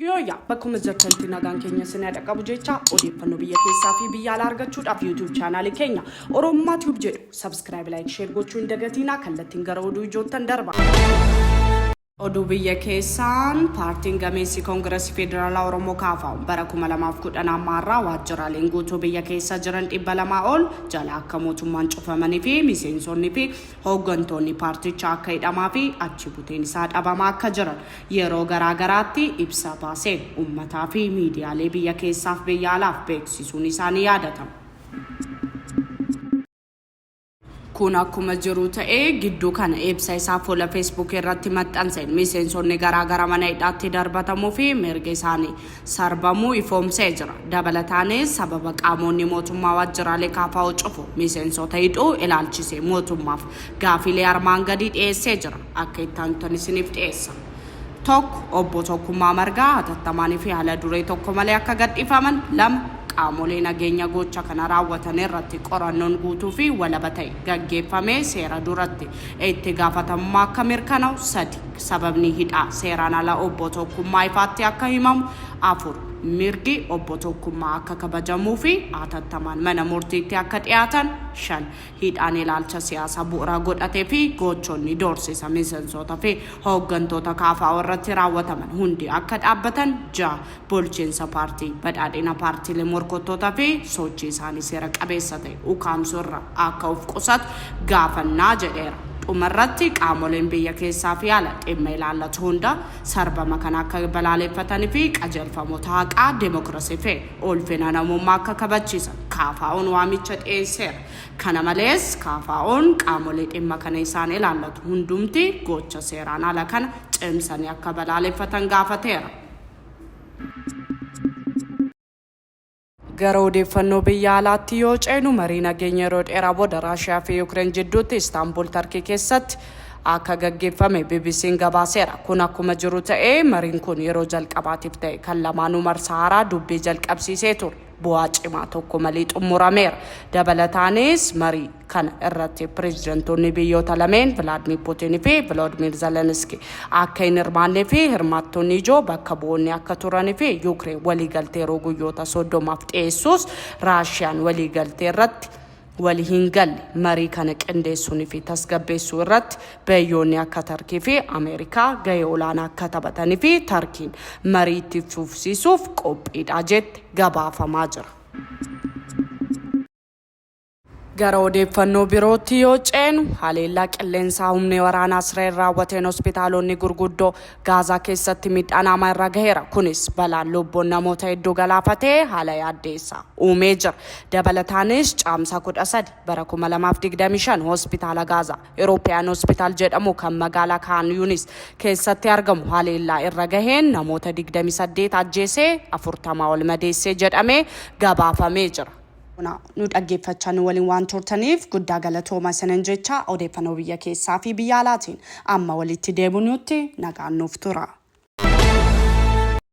Yooyyaa bakkuma jirtanitti nagaan keenya isin haa dhaqqabu jecha odeeffannoo biyya keessaa fi biyya alaa argachuudhaaf YouTube chaanaalii keenya Oromummaa Tube jedhu subscribe like share gochuu hin dagatinaa kallattiin gara oduu ijoottan darba. Oduu biyya keessaan Paartiin gameessi Koongirasii Federaalaa Oromoo Kaafa bara 2010 amma har'aa waajjiraaleen guutuu biyya keessa jiran 200 ol jala akka mootummaan cufamanii fi miseensonni fi hooggantoonni paartichaa akka hidhamaa fi achi buteen isaa dhabamaa akka jiran yeroo garaa garaatti ibsa baaseen uummataa fi miidiyaalee biyya keessaaf biyya alaaf beeksisuun isaa ni yaadatama. Kun akkuma jiru ta'ee, gidduu kana ibsa isaa fuula Facebook irratti maxxanseen miseensonni garaa gara mana hidhaatti darbatamuu fi mirgi isaanii sarbamuu ifoomsee jira. Dabalataanis sababa qaamoonni mootummaa waajjiraalee KFO cufu miseensota hidhuu ilaalchisee mootummaaf gaafiilee armaan gadii dhiyeessee jira. Akka itti aanutan isiniif dhiyeessa. 1, Obbo Tokkummaa Margaa hatattamaan fi hala duree tokko malee akka gadhiifaman 2, Qaamolee nageenya gocha kana raawwatan irratti qorannoon guutuu fi walaba ta'e gaggeeffamee seera duratti itti gaafatamummaa akka mirkana'u 3, Sababni hidhaa seeraan ala Obbo Tokkummaa ifaatti akka himamu 4, Mirgi Obbo Tokkummaa akka kabajamuu fi hatattamaan mana murtiitti akka dhiyaatan 5, Hidhaan ilaalcha siyaasa bu'ura godhate fi goochonni doorsisa misensoota fi hooggantoota kfo irratti raawwataman hundi akka dhaabbatan 6. Bulchiinsa Paartii Badhaadhina paartiilee morkottoota fi sochii isaanii seera qabeessa ta'e ukaamsuu irra akka of qusatu gaafannaa jedheera. Dhuma irratti qaamoleen biyya keessaa fi ala dhimma ilaallatu hunda sarbama kana akka balaaleeffatani fi qajeelfamoota haqaa, demokrasii fi. ulfina namummaa akka kabachiisan KFOn waamicha dhiyeesseera. Kana malees, KFOn qaamolee dhimma kana isaan ilaallatu hundumti gocha seeraan ala kana cimsanii akka balaaleffatan gaafateera. Gara odeeffannoo biyya alaatti yoo ceenu marii nageenya yeroo dheeraa booda Raashiyaa fi Yukireen jidduutti Istaanbul Tarkii keessatti akka gaggeeffame BBC'n gabaaseera. Kun akkuma jiru ta'ee mariin kun yeroo jalqabaatiif ta'e kan lamaanuu marsaa haaraa dubbii jalqabsiisee ture bu'aa cimaa tokko malee xumurameera. Dabalataanis marii kana irratti pireezidantoonni biyyoota lameen Vilaadmiir Puutiin fi Viloodmiir Zeleniski akka hin hirmaannee fi hirmaattonni ijoo bakka bu'oonni akka turan fi Yuukireen waliigaltee yeroo guyyoota soddomaaf dhiyeessuus Raashiyaan waliigaltee irratti wali hin galle marii kana qindeessuun fi tasgabbeessuu irratti biyyoonni akka Tarkii fi Ameerikaa gahee olaanaa akka taphatanii fi Tarkiin marii itti fufsiisuuf qophiidha jette gabaafamaa jira. Gara odeeffannoo birootti yoo ceenu haleellaa qilleensaa humni waraanaa Israa'el raawwateen hospitaalonni gurguddoo Gaazaa keessatti miidhaan haamaa irra gaheera. Kunis balaan lubbuun namoota hedduu galaafate haala yaaddeessaa uumee jira. Dabalataanis Caamsaa 13 bara 2025 hospitaala Gaazaa European Hospital jedhamu kan magaalaa Kaan Yunis keessatti argamu haleellaa irra gaheen namoota 28 ajjeesee 40 ol madeessee jedhamee gabaafamee jira. Bona nu dhaggeeffachaa nu waliin waan turtaniif guddaa galatooma isinin jecha odeeffannoo biyya keessaa fi biyya alaatiin amma walitti deebinuutti nagaan nuuf tura.